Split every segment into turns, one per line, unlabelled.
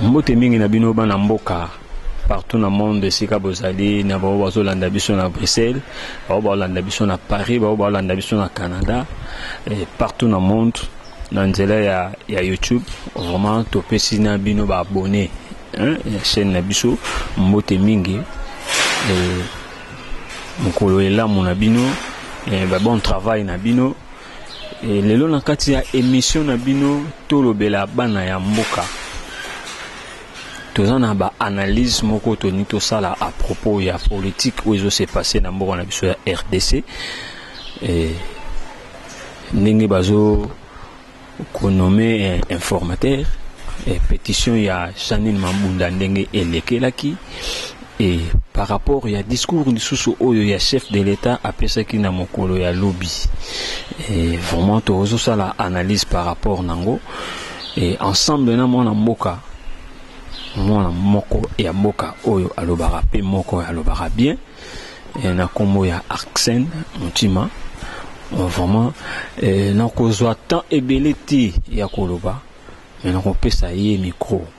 Mbote mingi na bino bana mboka partout na monde esika bozali na bao bazolanda biso na bruxelles bao baolanda biso na paris bao baolanda biso na canada et partout na monde na nzela ya, ya youtube vraiment topesi na bino baabonne hein, ya chaîne na biso mbote mingi mokolo elamu na bino ba bon travail na bino E, lelo na kati ya emisio na bino tolobela bana ya mboka toza na baanalyse moko toni tosala à propos ya politike oyo ezo se passe na mboka na biso ya rdc e, ndenge bazo konome eh, informateur e, petition ya janine mabunda ndenge elekelaki Et par rapport ya discours lisusu oyo ya chef de l'Etat apesaki na mokolo ya lobi et vraiment tozosala analyse par rapport nango et ensemble na mwana mboka mwana moko ya mboka oyo alobaka pe moko alobaka bien et na kombo ya Axen Mutima vraiment nakozwa temps ebele te ya koloba mais nakopesa ye micro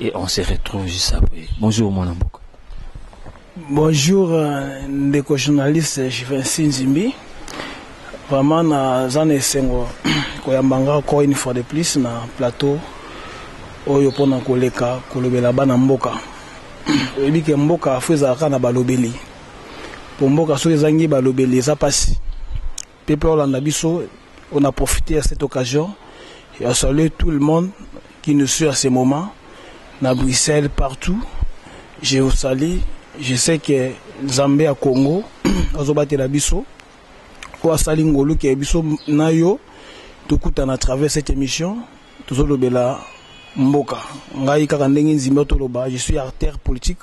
et on se retrouve juste après bonjour mwana mboka
bonjour euh, ndeko journaliste Juvency Nzimbi vraiment naza na esengo koyamba nga encore une fois de plus na plateau oyo mpona koleka kolobela bana mboka oyebi ke mboka fo ezalaka na balobeli mpo mboka soki ezangi balobeli eza mpasi Peuple olanda biso, on a profite à cette occasion ya saluer tout le monde qui nous suit à ce moment na Bruxelles partout. Je vous salue. Je sais que Nzambe ya Congo azobatela biso oyo asali ngolu ke biso na yo tokutana à travers cette émission tozolobela mboka ngai kaka ndenge nzimba toloba je suis artère politique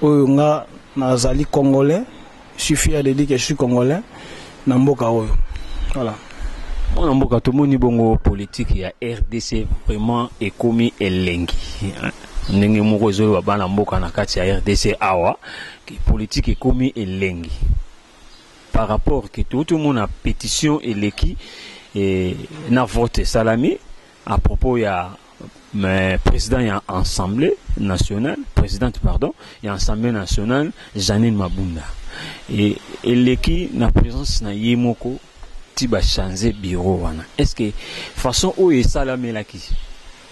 Oyo nga nazali congolais, je suis fier de dire que je suis congolais na mboka oyo. Voilà. Mwana
mboka tomoni bongo politique ya RDC vraiment ekomi elengi. Ndenge moko ezoloba bana mboka na kati ya RDC awa que politique ekomi elengi. Par rapport que touti omona petition eleki eh, na vote esalami A propos ya mais president ya assemblée nationale presidente pardon ya assemblée nationale Janine Mabunda e, eleki na présence na ye moko ti ba changer bureau wana est ce que façon oyo esalamelaki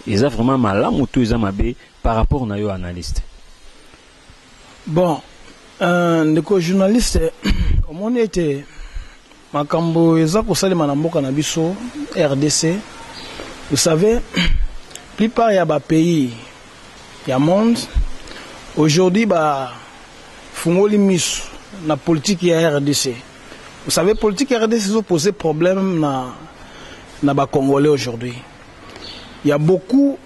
eza vraiment malamu to eza mabe par rapport na yo analyste
bon euh, ndeko journaliste omoni ete Makambo eza kosalema na mboka na biso rdc vous savez plupart ya ba pays ya monde aujourd'hui ba fungoli misu na politique ya rdc vous savez politique ya rdc ezo poser problème na na ba congolais aujourd'hui il ya beaucoup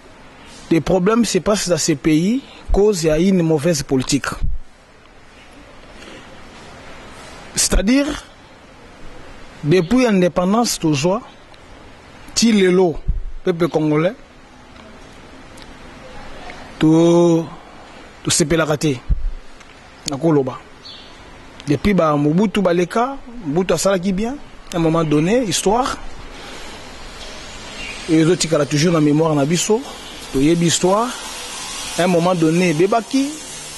des problèmes se passe dans ce pays cause ya une mauvaise politique c'est-à-dire depuis indépendance tozwa ti lelo peuple congolais to tosepelaka te nakoloba depuis ba mobutu baleka mobutu asalaki bien à un moment donné histoire ezotikala toujours na mémoire na biso toyebi histoire à un moment donné ebebaki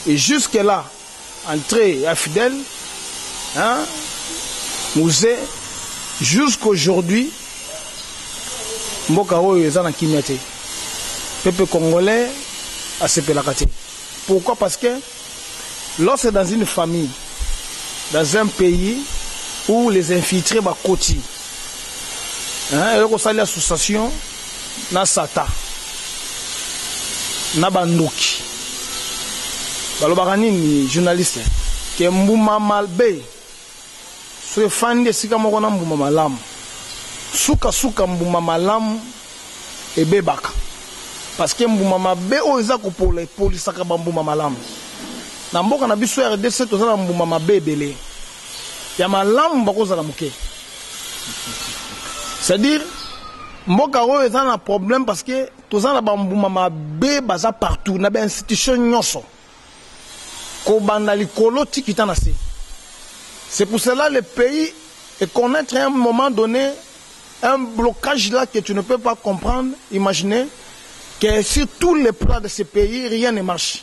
Et jusque là entree ya Fidel hein muze jusqu'aujourd'hui mboka oyo eza na kimia te pepe congolais asepelaka te pourquoi parce que lorsque dans une famille dans un pays où les infiltrés bakoti hein, et association na satan na ba ndoki balobaka nini journaliste ke mbuma malbe soki efandi esika moko na mbuma malamu sukasuka mbuma malamu ebebaka parceke mbuma mabe oyo eza kopola epolisaka bambuma malamu na mboka na biso rdc toza na mbuma mabe ebele ya malamu bakozala moke c'est-à-dire mboka oyo eza na problème parce que toza na bambuma mabe baza partout na bainstitution nyonso kobanda likolo tikita na se c'est pour cela le pays est connaître à un moment donné un blocage là que tu ne peux pas comprendre imaginer que sur tous les plans de ce pays rien ne marche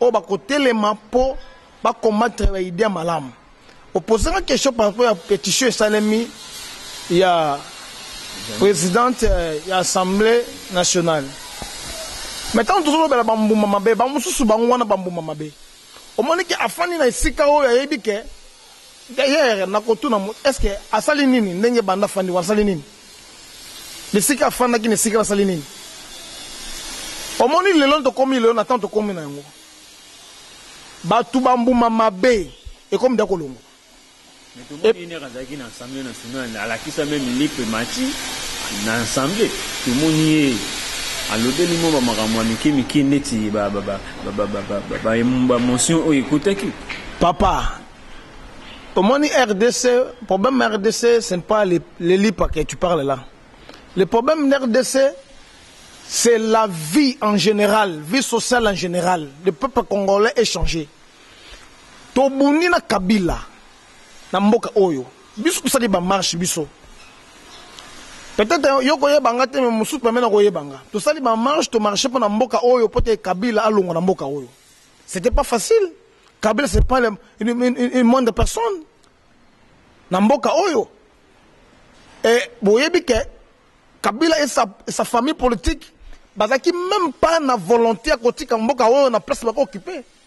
oyo bakotelema mpo ba combattre ba idee ya malamu opposaka question par rapport ya petition esalemi ya présidente euh, ya assemblée nationale mais ntango tozolobela bambuma mabe bamosusu bango wana bambuma mabe omoni ke afandi na esika oyo ayebi ke D'ailleurs na kotuna moto est ce que asali nini ndenge banda afandi wana asali nini? Bisika afandaki na esika wana asali nini? Omoni lelo tokomi lelo na temps tokomi na yango batu ba mbuma mabe ekomi da kolongwa. Mais tout
le monde une heure azalaki na assemblée nationale alakisa meme lipe mati na assemblée tomoni ye alobeli mwa ba makambo ya mike mike ndeti ba ba ba ba motion oyo ekotaki papa
omoni rdc problème ya rdc ce n'est pas le, le lipa que tu parles là le problème de rdc c'est la vie en général vie sociale en général le peuple congolais est changé tobundi na kabila na mboka oyo Biso tosali ba marche biso. Peut-être yo koyeba nga te mais mosusu pembe na koyeba nga. Tosali ba marche to marche pona mboka oyo pote Kabila alongwa na mboka oyo. C'était pas facile. Kabila c'est pas une, une, une, une moindre personne. Na mboka oyo. Et boyebi ke Kabila et sa, et sa famille politique bazaki même pas na volonté ya kotika mboka oyo na place bako occuper.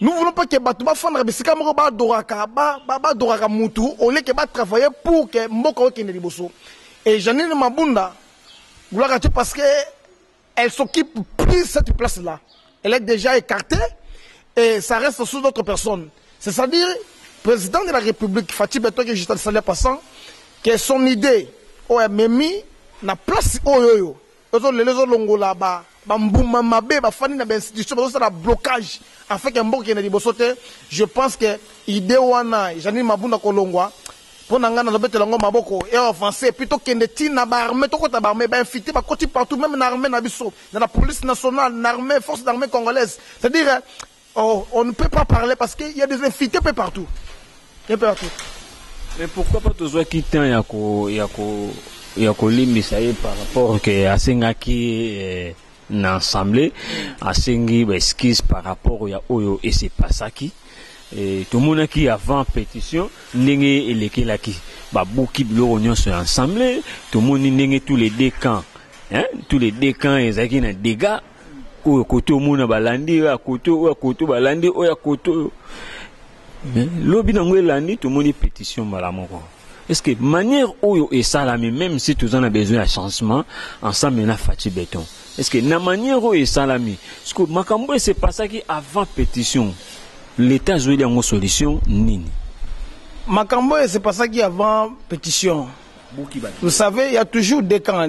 Nous voulons pas que bato bafandaka bisika moko badoraka badoraka mutu au lieu que batravaille pour que mboka okende liboso et janine mabunda gloire te parce que elle s'occupe plus cette place là elle est déjà écartée et ça reste sous d'autres personnes c'est à dire président de la république fatih beton que juste le salaire passant que son idée oyo amemi na place oyo oyo Ezo lela ezo longola ba ba mbuma mabe ba fandi na ba institution bazo sala blocage afin que mboka ekende liboso te je pense que idee wana Jeanine Mabunda kolongwa pona nga nazo betela yango maboko et avancer puis tokende ti na ba armee tokota ba armee ba infiltre bakoti partout meme na armee na biso na la police nationale na armee force d'armee congolaise c'est à dire Oh, on ne peut pas parler parce qu'il y a des invités peu partout. Un peu partout.
Mais pourquoi pas tozwaki temps ya ko ya ko ya kolimbisa ye par rapport que asengaki eh, na assemblée asengi ba excuse par rapport ya oyo et se passaki eh, tomonaki avant pétition ndenge elekelaki babuki biloko nyonso ya assemblée tomoni ndenge tous les deux camps hein, tous les deux camps ezalaki na dégâts oyo koto omona balandi oyo ya koto oyo ya koto balandi oyo ya koto oyo mais lobi nango elandi tomoni pétition mbala moko est ce que manière oyo esalami même si toza na besoin ya changement ensemble na faci beton est ce que na manière oyo esalami siko makambo ese pasaki avant pétition l'état azweli yango solution nini makambo
ese pasaki avant pétition vous savez il y a toujours des camps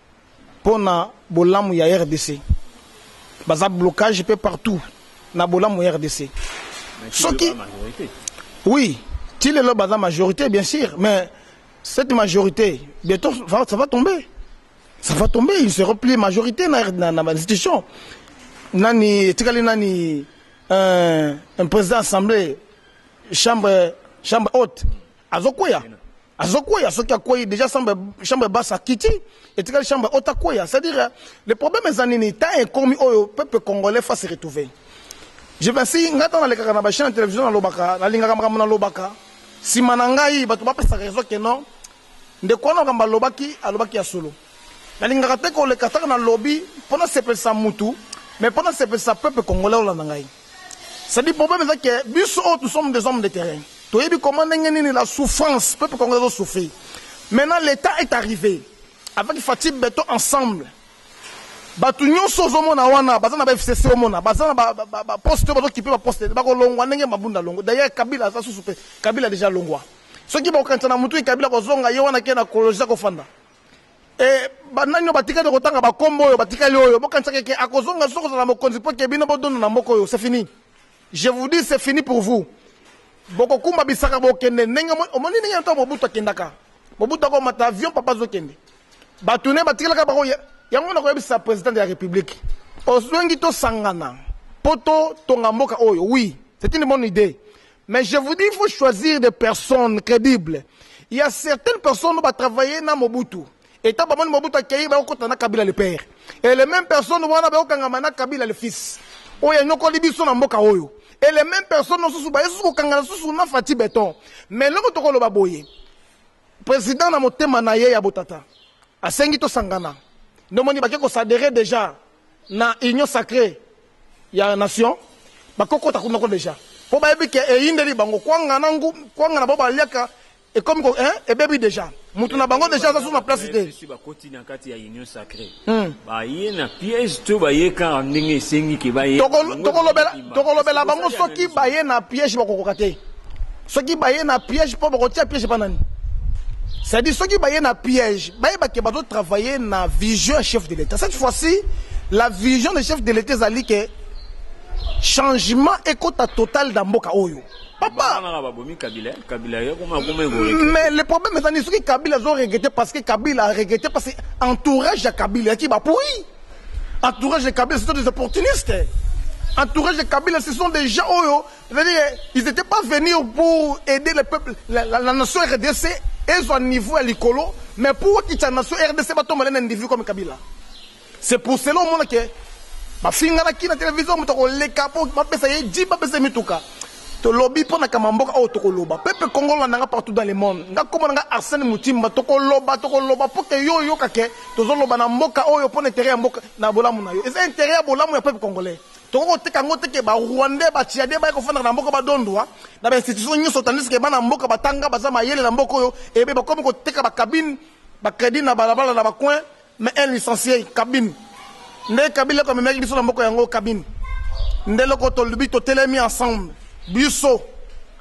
Pona bolamu ya rdc. Baza blocage pe partout na bolamu ya rdc. Soki Oui, ti lelo baza majorité bien sûr, mais cette majorité bientôt ça va tomber. Ça va tomber, ils seront plus majorité na na, na institution. Nani etikali nani un, un président assemblée chambre chambre haute azokweya azokweya soki akweyi déjà chambre chambre basse akiti etikali chambre ota kweya c'est à dire euh, le problème eza nini temps ekomi oyo peuple congolais fa se retrouver je vinci ngai ntango nalekaka na bachaine ya télévision nalobaka nalingaka makambo nalobaka nsima na ngai bato bapesaka raison ke non ndeko wana makambo alobaki alobaki ya solo nalingaka te koleka ntango nalobi mpo nasepelisa mutu mais mpo nasepelisa peuple congolais olanda ngai C'est du problème eza que biso oyo nous sommes des hommes de terrain. Toyebi comment ndenge nini la souffrance peuple congolais doit souffrir. Maintenant l'état est arrivé avec Fatih Beton ensemble. Batu nyonso ozomona wana baza na ba FCC omona baza na ba, ba, ba, ba poste oyo bazokipe ba poste bakolongwa ndenge mabunda longo d'ailleurs Kabila aza susu pe Kabila déjà longwa soki bakokanisa na mutu Kabila kozonga ye wana ke na kologisa kofanda E banani oyo batikali kotanga bakombo oyo batikali oyo bokanisa keke akozonga soko ozala mokonzi mpo ke bino bodondo na mboka oyo c'est fini je vous dis c'est fini pour vous bokokumba bisaka bokende ndenge omoni ndenge ntango mobutu akendaka mobutu akomata avion papa azokende bato ne batikalaka bango yango na koyebisa président de la république ozwengi tosangana mpo totonga mboka oyo oui c'est une bonne idée Mais je vous dis il faut choisir des personnes credibles. Il y a certaines personnes qui ont travaillé na Mobutu. Et tant que Mobutu a accueilli, bah, on a Kabila le père. Et les mêmes personnes, on a Kangama Kabila le fils. Oh, il y a une colibison en boka oyo. Et les mêmes personnes, on sous bah, sous Kangala sous na Fatih Béton. Mais l'homme toko le baboye. Président na motema na ye ya botata. Asengi to sangana. Nomoni bakeko s'adhérer déjà. na union sacree ya nation bakokota kuna ko deja mpo bayebi ke eyindeli bango kwanga na ngu kwanga na bango baliaka ekomi ko hein, ebebi deja moto na bango deja aza susu na place te si bakoti na kati ya union sacree hmm. baye na piège to baye kaka ndenge esengi ke baye tokolobela bango soki baye na piège bakokoka te soki baye na piège mpo bakotia piège epa nani c'est-à-dire soki baye na piège bayeba ke bazo travailler na vision ya chef de l'état cette fois-ci la vision de chef de l'état ezali ke changement ekota total na mboka oyo papa mais le problème eza nini soki kabila azo regrete parce que kabila a regrete parce que entourage ya kabila yaki bapoi entourage ya kabila ce sont des opportunistes entourage ya kabila ce sont des gens oyo C'est-à-dire, ils n'étaient pas venus pour aider le peuple, la, la, la nation RDC, et un niveau à l'icolo, mais pour que la nation RDC va tomber un individu comme Kabila. C'est pour cela au monde que, ma fille n'a qui la télévision, mais on les capots, ma pèse, il dit, ma pèse, mais tout cas. To lobby pour na kamamboka au toko loba. Pepe Congo la nanga partout dans le monde. Nga koma nanga Arsène Mutimba toko loba toko loba pour que yo yo kake tozo loba na mboka oyo pour intérêt ya mboka na bolamu na yo. C'est intérêt ya bolamu ya peuple congolais. Tokoki koteka yango te ke ba Rwandais ba Tchadais baye kofandaka na mboka badondwa na ba institution nyonso tandis ke bana mboka batanga baza mayele na mboka oyo ebe bakomi koteka ba cabine ba credit na balabala na ba coin mais un licencier cabine nde Kabila ko amemaki biso na mboka yango cabine nde loko tolobi totelemi ensemble biso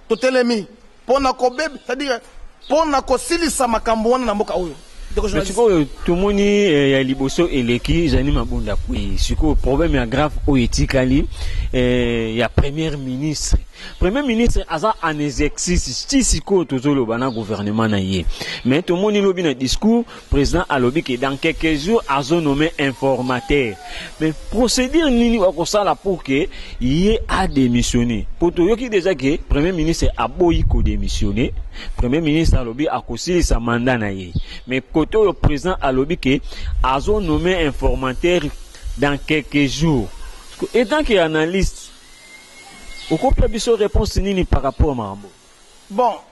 totelemi pona kobeb c'est à dire pona kosilisa makambo wana na mboka oyo
mais sikoyo tomoni eh, ya liboso eleki ezali mabunda kwei sikoyo problème ya grave oyo etikali eh, ya première ministre premier ministre aza en exercice ti sikoyo tozoloba na gouvernement na ye mais tomoni lobi na discours President alobi que dans quelques jours azo nomme informateur mais procedure nini bako sala pour que ye a demissionner po toyoki dejà que premier ministre aboyi ko demissionner premier ministre alobi akosilisa mandat na ye mais kote oyo president alobi que azo nomme informateur dans quelques jours etant que analyste okopesa biso réponse nini par rapport makambo bon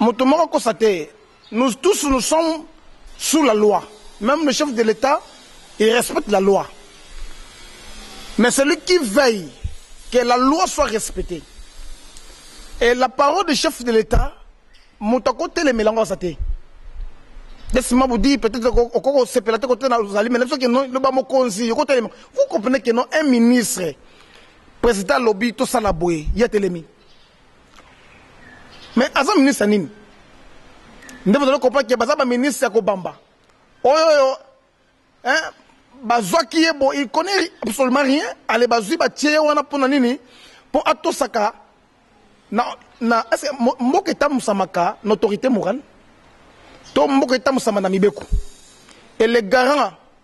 moto moko akosa te nous tous nous sommes sous la loi même le chef de l'état il respecte la loi mais celui qui veille que la loi soit respectée et la parole du chef de l'état moto akotelemela yango aza te laisse-moi vous dire peut-être okoki kosepela te kotena ozali mais na biso keno loba mokonzi okotelema vous comprenez keno un ministre président alobi tosala boye ye atelemi Mais aza ministre nini nde bozali comprendre ke baza baministre ya kobamba oyo oyo bazwaki ye bo il connaît absolument rien ale bazwi batie ye wana mpo na nini mpo atosaka na, na ese mboka etambusamaka na autorité morale to mboka etambusamaka na mibeko et le garant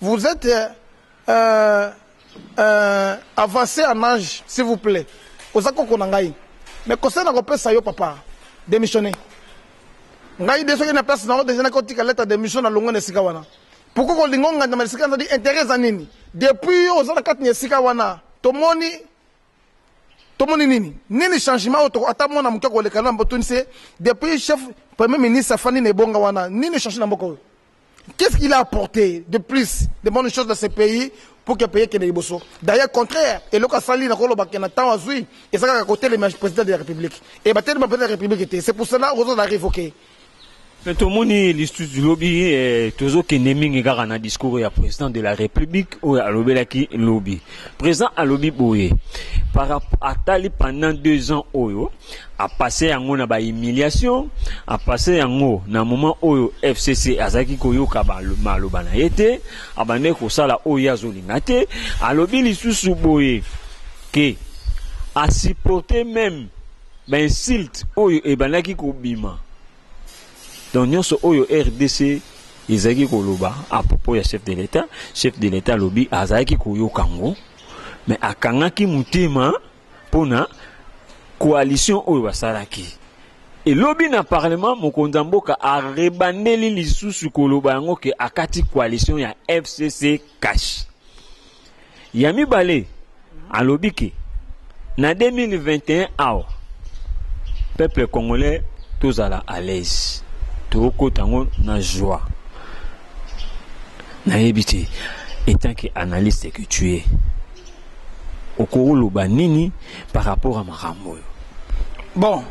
Vous etes euh, euh, avancé en âge s'il vous plaît oza koko na ngai mais conseil nakopesa yo papa démissionner ngai de soki na place na yo deja nakotika leta démission na longo na esika wana pourkoi kolinga ongandama esika nazali intérêt eza nini depuis yo oza na kati na esika wana tomoni tomoni nini nini changement oyo ata mwana moke akoleka na mbotunise depuis chef premier ministre afandi na ebonga wana nini change na mboka oyo Qu'est-ce qu'il a apporté de plus de bonnes choses dans ce pays pour que pays kende liboso d'ailleurs contraire eloko asali na koloba ke na ntango azwi eza kaka kotelema président de la république e batelema président de la république te c'est pour cela ozo na révoqué mais
tomoni listusu lobi eh, tozokende mingi kaka na discours ya président de la république oyo alobelaki lobi Président alobi boye par rapport atali pendant deux ans oyo a passé yango na ba humiliation a passé yango na moment oyo FCC azalaki koyoka ba maloba na ye te abandaki kosala oyo ye azolinga te alobi lisusu boye ke a supporter même ba insulte oyo ebandaki kobima Donc nionso oyo RDC ezalaki koloba à propos ya chef de l'État, chef de l'État lobi azalaki koyoka ngo mais akangaki motema pona coalition oyo basalaki. Et lobi na parlement mokonzi ya mboka arebandeli lisusu koloba yango ke akati coalition ya FCC cash. ya mibale alobi ke na 2021 awa peuple congolais tozala à l'aise tokokota yango na joie nayebi te etant que analyste que tu es okoloba nini par rapport à makambo oyo bon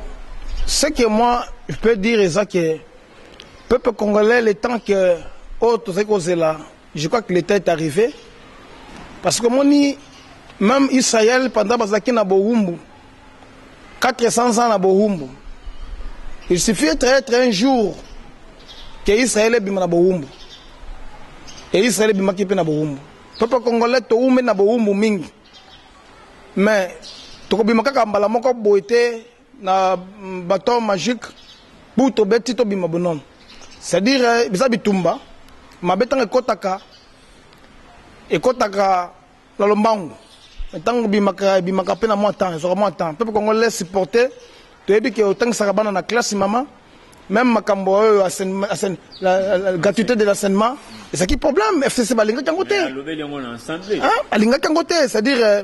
ce que moi je peux dire eza que peuple congolais le temps que oyo tozali kozela Je crois que le temps est arrivé parce que moni même Israël pendant bazaki na bohumbu 400 ans na bohumbu il suffit être être un jour que Israël ebima na bohumbu et Israël ebimaki mpe na bohumbu peuple congolais toumeli na bohumbu mingi mais tokobima kaka mbala moko boye te Na baton magique pour to beti to bima bonon. C'est à dire eh, biza bitumba mabe tanga ekotaka ekotaka na lombangu ntango bimaka bimaka mpe na mwa temps ezwaka mwa temps mpe kongo les supporter toyebi ke otangisaka bana na classe mama même makambo oyo gratuité de l'enseignement ezalaki problème fcc balingaki yango te hein, balingaki yango te c'est-à-dire euh,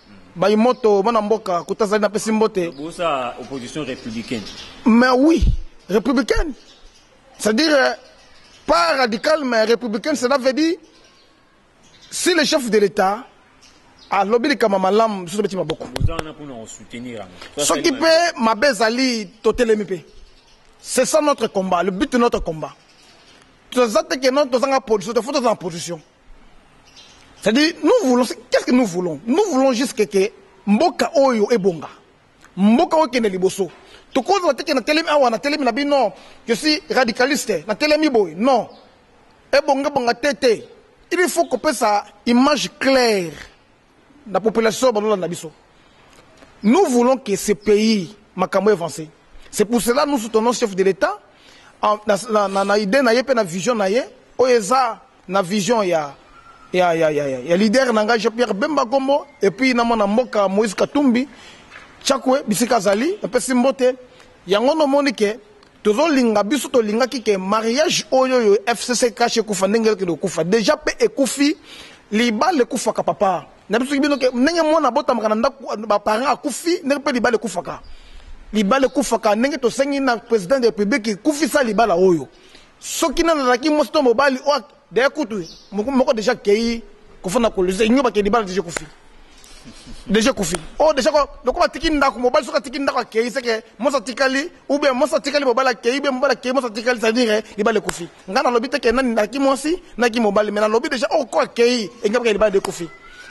Bayi moto bana mboka kuta zali napesi mbote. Bosa opposition
républicaine. Mais oui,
républicaine. C'est-à-dire euh, pas radical mais républicaine cela veut dire si le chef de l'État alobi likambo malamu biso tobeti maboko soki mpe mabe ezali totelemi mpe c'est ça notre combat le but de notre combat toza te ke no tozanga position te fo tozala na position C'est-à-dire, nous voulons, qu'est-ce que nous voulons Nous voulons juste que, que mboka oyo ebonga. Mboka oyo kende liboso. Tokozwa te que na telemi awa, na telemi na bi non, je suis radicaliste, na telemi boy, non. Ebonga bonga tete. Il faut qu'on puisse image claire. Na population bazo landa biso. Nous voulons que ce pays makambo evancer. C'est pour cela nous soutenons chef de l'Etat na idee na ye pe na vision na ye oyo eza na vision ya ya ya ya ya leader na ngai Jean-Pierre Bemba Gombo et puis na mwana mboka Moïse Katumbi Chakwe bisika azali napesi mbote yango nomoni ke Tozo linga biso to lingaki ke mariage oyo yo FCC cash ekufa ndenge elki do kufa deja pe ekufi libala ekufaka papa na biso ki bino ke ndenge mwana abotamaka na ndaku ba parents akufi ndenge pe libala ekufaka libala ekufaka ndenge tosengi na president de republique kufisa libala oyo soki nana azalaki mwasi to mobali oyo de kutu moko moko deja kei kofanda kolisa inyo bakei libala deja kufi deja kufi o oh, deja lokola atiki ndako mobali soki atiki ndako akei seke mwasi atikali ou bien mwasi atikali mobali akei ou bien mobali akei mwasi atikali c'est-à-dire libala ekufi ngai nalobi te ke nani naki mwasi naki mobali mais nalobi deja oko oh, akei engi bakei libala dekufi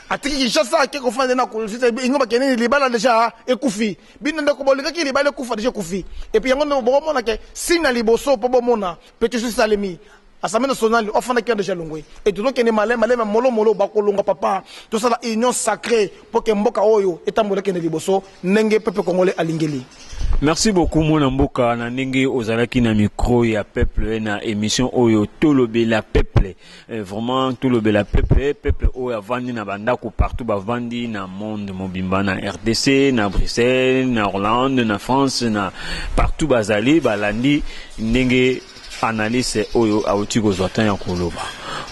atiki kinshasa ake kofanda na kolisa inyo bakei nini libala deja ekufi bino ndeko bolingaki libala ekufa deja ekufi epuis yango nde bokomona ke sina liboso mpo bomona petition esalemi Assemble nationale ofanda kia deja longwe et tozo kende malema malema molo molo bakolonga papa tosala union sacrée pour que mboka oyo etambola kende liboso ndenge peuple congolais alingeli Merci beaucoup
mwana mboka na ndenge ozalaki na micro ya peuple na emission oyo tolobela peuple eh, vraiment tolobela peuple peuple oyo avandi na bandako partout bavandi na monde mobimba na RDC na Bruxelles na Hollande na France na partout bazali balandi ndenge Analyste oyo awuti kozwa temps ya koloba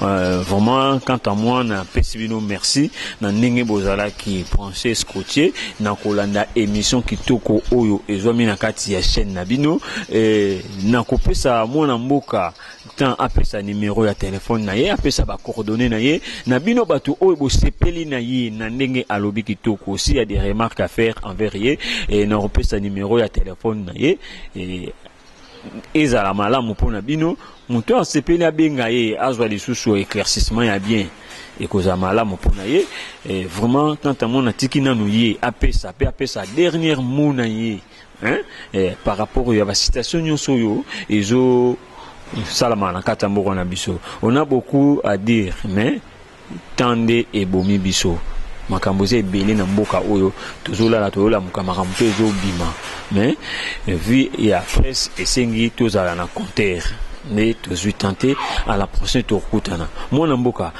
euh, vraiment quant à moi na pesi bino merci na ndenge bozalaki branche scottier na kolanda émission kitoko oyo ezwami na kati ya chaîne na bino e, na kopesa mwana mboka temps apesa numéro ya telefone na ye apesa bacoordonne na ye na bino bato oyo bosepeli na ye na ndenge alobi kitoko si ya des remarques à faire envers ye e, na kopesa numéro ya telefone na ye e, ezala malamu mpo na bino moto oyo asepeli abenga ye azwa lisusu éclaircissement ya bien ekozala malamu mpo na ye eh, vraiment tante amona atiki nanu ye apesa mpe apesa dernière mot na ye hein? Eh, par rapport ya bacitation nyonso oyo ezosalama na kati ya mboka na biso on a beaucoup à dire mais Temps nde ebomi biso. Makambo eza ebele na mboka oyo tozolala toyolamuka makambo mpe ezobima mais vie ya presse esengi tozala na compteur nde tozwi temps te à la prochaine tokokutana mwana mboka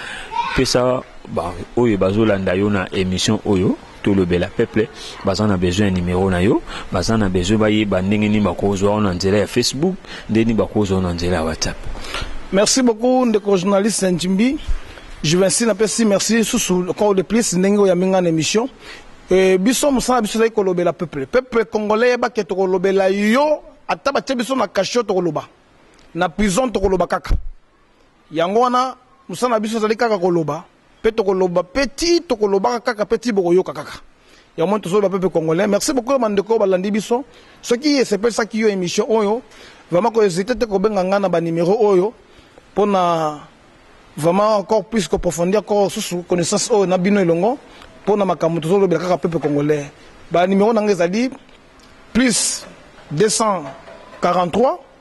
pesa baoyo bazolanda yo na émission oyo tolobela peuple baza na besoin ya numero na yo baza na besoin bayeba ndenge nini bakozwa yo na nzela ya facebook ndenge nini bakozwa yo na nzela ya whatsapp merci beaucoup
ndeko journaliste njimbi juvensi napesi merci susu encore de plus ndenge oyambi ngai na émission e, biso mosala biso ezali kolobela peuple peuple congolais yebake tokolobela yo ata batye biso na kasho tokoloba na prison tokoloba kaka yango wana mosala na biso ezali kaka koloba Pe tokoloba pe ti tokolobaka kaka pe ti bokoyoka kaka. Ya mwa tozoloba pepe congolais. Merci beaucoup ba ndeko balandi biso. Soki esepesaki yo emission oyo, vraiment ko hésiter te kobenga nga na ba numero oyo pona vraiment encore plus ko profondir ko susu connaissance oyo na bino elongo pona makambo tozolobela kaka pepe congolais. Ba numero na nga ezali plus 243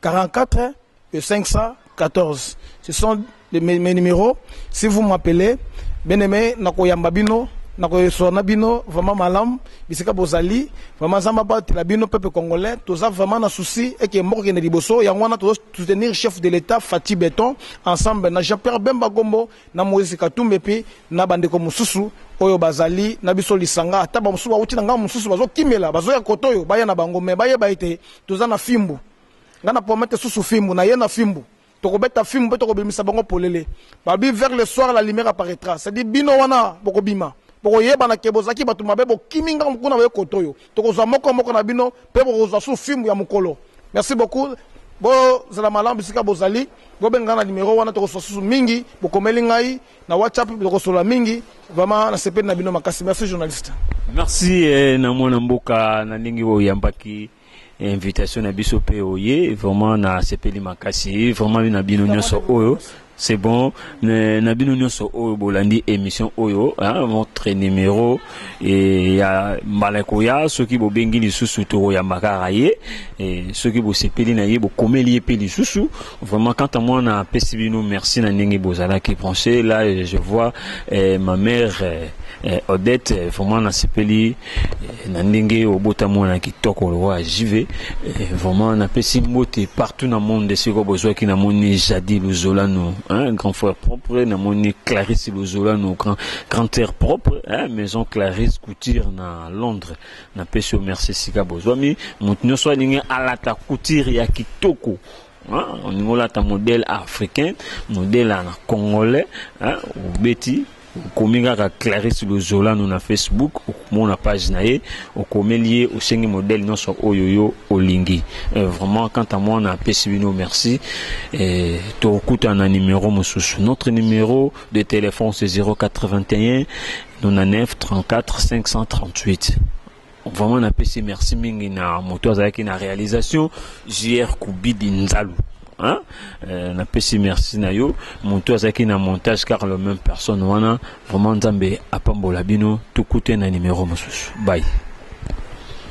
44 le 514 ce sont les, mes, mes numéros si vous m'appelez bien aimé nakoyamba bino nakoyeswa na bino vraiment malamu bisika bozali vraiment zamba batela bino peuple congolais toza vraiment na souci eke mboka kende liboso yango wana tozo soutenir chef de l'état fati beton ensemble na jean pierre bemba gombo na moïse katumbi epuis na bandeko mosusu oyo bazali na biso lisanga ata bamosusu bauti na ngambo mosusu bazokimela bazoya koto oyo baya na bango me bayeba ete Toza na fimbu. Nga na promette susu fimbu. Na ye na fimbu. Tokobeta fimbu pe tokobimisa bango polele. Babi vers le soir la lumière apparaîtra. C'est dit bino wana bokobima. Bokoyebana ke bozaki batu mabe bokimi nga mukuna boye kotoyo. Tokozwa moko moko na bino pe bokozwa susu fimbu ya mukolo. Merci beaucoup. Bo zala malamu bisika bozali. Bobenga nga na numero wana tokoswa susu mingi. Bokomeli ngai. na WhatsApp tokosolola mingi vraiment nasepeli na bino makasi merci journaliste merci eh,
na mwana mboka na ndenge oyambaki invitation na biso mpe oye vraiment nasepeli makasi vraiment na bino nyonso oyo c'est bon na bino nyonso oyo bolandi émission oyo hein, votre numéro e, ya mbala ekoya soki bobengi lisusu tokoyamba kaka ye e, soki bosepeli na ye bokomeli ye mpe lisusu vraiment quant à moi napesi bino merci na ndenge bozalaki branche là je vois eh, ma mère eh, eh odette eh, vraiment nasepeli eh, na ndenge obota mwana kitoko lokola jv eh, vraiment napesi mbote partout na monde esika bozwaki namoni jadi luzolano hein, grand frère propre namoni clarisse luzolano grand Grand air propre, hein, maison Clarisse Couture na Londres. Na pesio merci sika bozwami. Mutu nyoso alingi alata couture ya kitoko. Hein, on ngola ta modèle africain, modèle na congolais, hein, obeti okomi kaka clarisse lozolano na facebook okomona page na ye okomeli ye osengi modele nyonso oyo yo olingi euh, vraiment quant à moi napesi bino merci tokokutana na numero mosusu notre numero de téléphone c'est 081 99 34 538 vraiment napesi merci mingi na moto azalaki na réalisation jr kubidi nzalu hein? euh, napesi merci na yo moto azalaki na montage car le même personne wana vraiment nzambe apambola bino tokute na numéro mosusu bye